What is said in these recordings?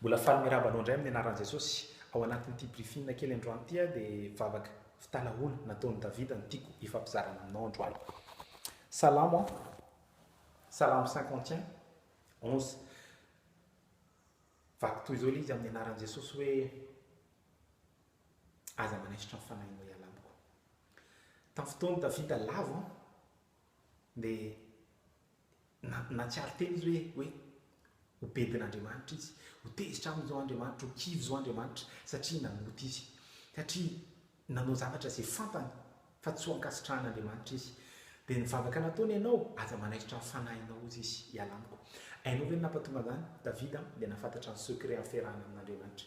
Mbola faly miraba anao indray amin'ny anaran'i Jesosy. Ao anatin'ity briefing kely androany ity aho dia vavaka fitalahoana nataon'i Davida no tiako hifampizarana aminao androany. Salamo an, Salamo cinquante et un, onze. Vaky toy izao ilay izy amin'ny anaran'i Jesosy hoe Aza manaisotra ny fanahinao hiala amiko. Tamin'ny fotoan'i Davida lavo dia Na, nahatsiaro tena izy hoe, hoe, Ho bedin' Andriamanitra izy. Ho tezitra aminy izao Andriamanitra, ho kivy izao Andriamanitra, satria nanota izy. Satria nanao zavatra izay fantany fa tsy ho ankasitrahan' Andriamanitra izy. Dia ny vavaka nataony, Ianao, aza manaisotra ny fanahinao, hozy izy, hiala amiko. Hainao ve ny nampatonga an'izany? Davida dia nahafantatra ny secret amin'ny fiarahana amin' Andriamanitra.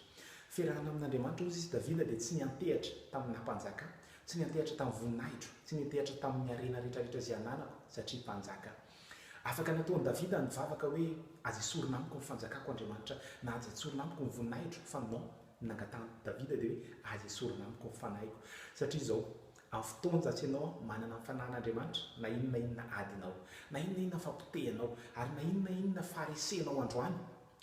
Fiarahana amin' Andriamanitra, hozy izy, Davida dia tsy niantehatra tamin'ny naha-mpanjaka, Tsy niantehatra tamin'ny voninahitro, tsy niantehatra tamin'ny harena rehetrarehetra izay ananako, satria mpanjaka. Afaka natao an'i Davida ny vavaka hoe, Aza esorina amiko ny fanjakako, Andriamanitra, na Aza tsorina amiko ny voninahitro, fa non, ny nangatahan'i Davida dia hoe, Aza esorina amiko ny fanahiko. Satria izao, amin'ny fotoan-jatsy ianao manana ny fanahin'Andriamanitra, na inona na inona adinao, na inona na inona fapotehanao, ary na inona na inona faharesenao androany,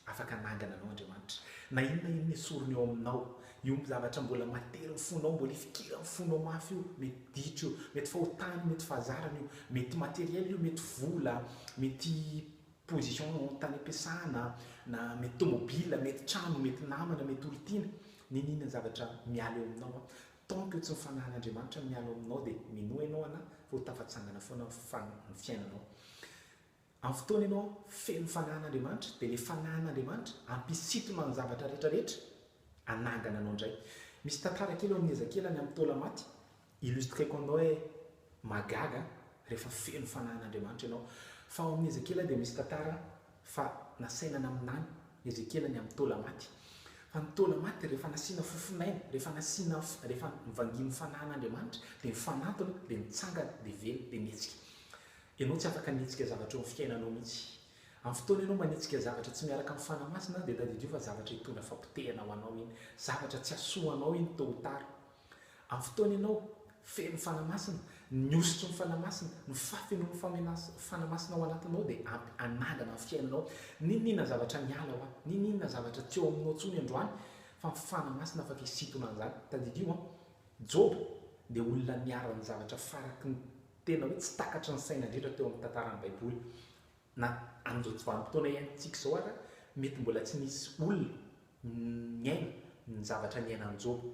Afaka hanangana anao Andriamanitra, na inona inona esoriny eo aminao. Io zavatra mbola materin'ny fonao, mbola ifikiran'ny fonao mafy io, mety ditra io, mety fahotana, mety fahazarana io, mety matériel io, mety vola, mety position tany am-piasana, na mety tomobila, mety trano, mety namana, mety olon-tiana, n'inona inona zavatra miala eo aminao an, tant que tsy ny fanahin'Andriamanitra no miala ao aminao dia minoa ianao ana fa ho tafatsangana foana ny fiainanao. Amin'ny fotoana ianao feno fanahin'Andriamanitra, dia ilay fanahin'Andriamanitra hampisintona ny zavatra rehetrarehetra hanangana anao indray. Misy tantara kely ao amin'ny Ezekiela ny amin'ny taola-maty, illustreko aminao hoe mahagaga rehefa feno fanahin'Andriamanitra ianao. Fa ao amin'ny Ezekiela dia misy tantara fa nasaina naminany i Ezekiela ny amin'ny taola-maty. Fa ny taola-maty rehefa nasiana fofon'aina, rehefa nasiana, rehefa nivangian'ny fanahin'Andriamanitra, dia nifanantona, dia nitsangana, dia velona, dia nihetsika. Ianao tsy afaka ny hihetsika zavatra eo amin'ny fiainanao mihitsy. Amin'ny fotoana ianao manitsika zavatra tsy miaraka amin'ny Fanahy Masina, dia tadidio fa zavatra hitondra fahapotehana ho anao iny, zavatra tsy hahasoa anao iny tôt ou tard. Amin'ny fotoana ianao feno Fanahy Masina, ny hosotry ny Fanahy Masina, ny fahafenoan'ny Famenas, Fanahy Masina ao anatinao dia ampy hanangana ny fiainanao. N'inon'inona zavatra miala hoa, n'inon'inona zavatra tsy eo aminao intsony androany, fa ny Fanahy Masina afaka hisintona an'izany. Tadidio an! Joba dia olona niharan'ny zavatra faraky ny Tena hoe tsy takatry ny saina indrindra teo amin'ny tantaran'ny Baiboly. Na amin'izao tsy vanim-potoana iainantsika izao àry, mety mbola tsy nisy olona niaina ny zavatra niainan'i Joba.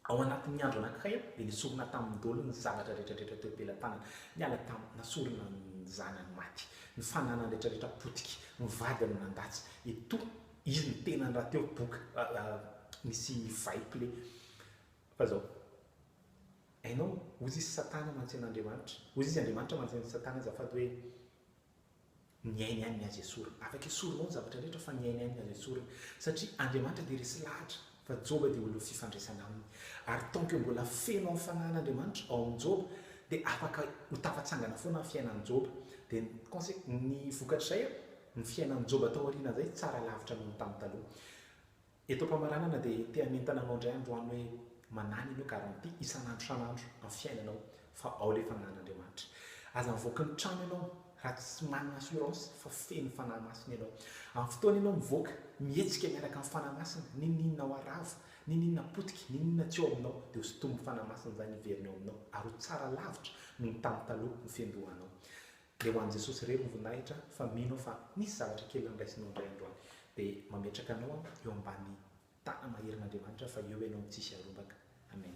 Ao anatin'ny andro anankiray, dia nesorina tamin'ny dolo ny zavatra rehetrarehetra teo am-pelam-tanany. Niala tamin'ny nasorina ny zanany maty, ny fananany rehetrarehetra potika, ny vadiny nandatsy. Etoa izy ny tenany rahateo boka nisy vay kle. Fa izao. Hainao, hozy izy satana mantsy an'Andriamanitra, hozy izy Andriamanitra mantsy an'i satana azafady hoe ny ainy ihany ny azo esorina, afaka esorinao ny zavatra rehetra fa ny ainy ihany ny azo esorina satria Andriamanitra dia resy lahatra fa Joba dia olona fifandraisana aminy ary tant que mbola feno amin'ny fanahin'Andriamanitra ao amin'i Joba dia afaka ho tafatsangana foana ny fiainan'i Joba dia ny conse ny vokatr'izay ny fiainan'i Joba taoriana izay tsara lavitra noho ny tamin'ny taloha. Eto am-pamaranana dia te hanentana anao indray androany hoe manany ianao garantie isan'andro isan'andro amin'ny fiainanao fa ao ilay fanahin'Andriamanitra. Aza mivoaka ny trano ianao raha tsy manana assurance fa feno Fanahy Masina ianao. Amin'ny fotoana ianao mivoaka, mihetsika miaraka amin'ny Fanahy Masina, n'inon'inona ho aravo, n'inon'inona potika, n'inon'inona tsy ao aminao dia ho sintomin'ny Fanahy Masina izany hiverina ao aminao ary ho tsara lavitra noho ny tamin'ny taloha ny fiandohanao. Dia ho an'i Jesosy irery ny voninahitra fa mino aho fa misy zavatra kely andraisinao indray androany. Dia mametraka anao aho eo ambany tana maherin'Andriamanitra fa eo ianao no tsisy arombaka. Amen.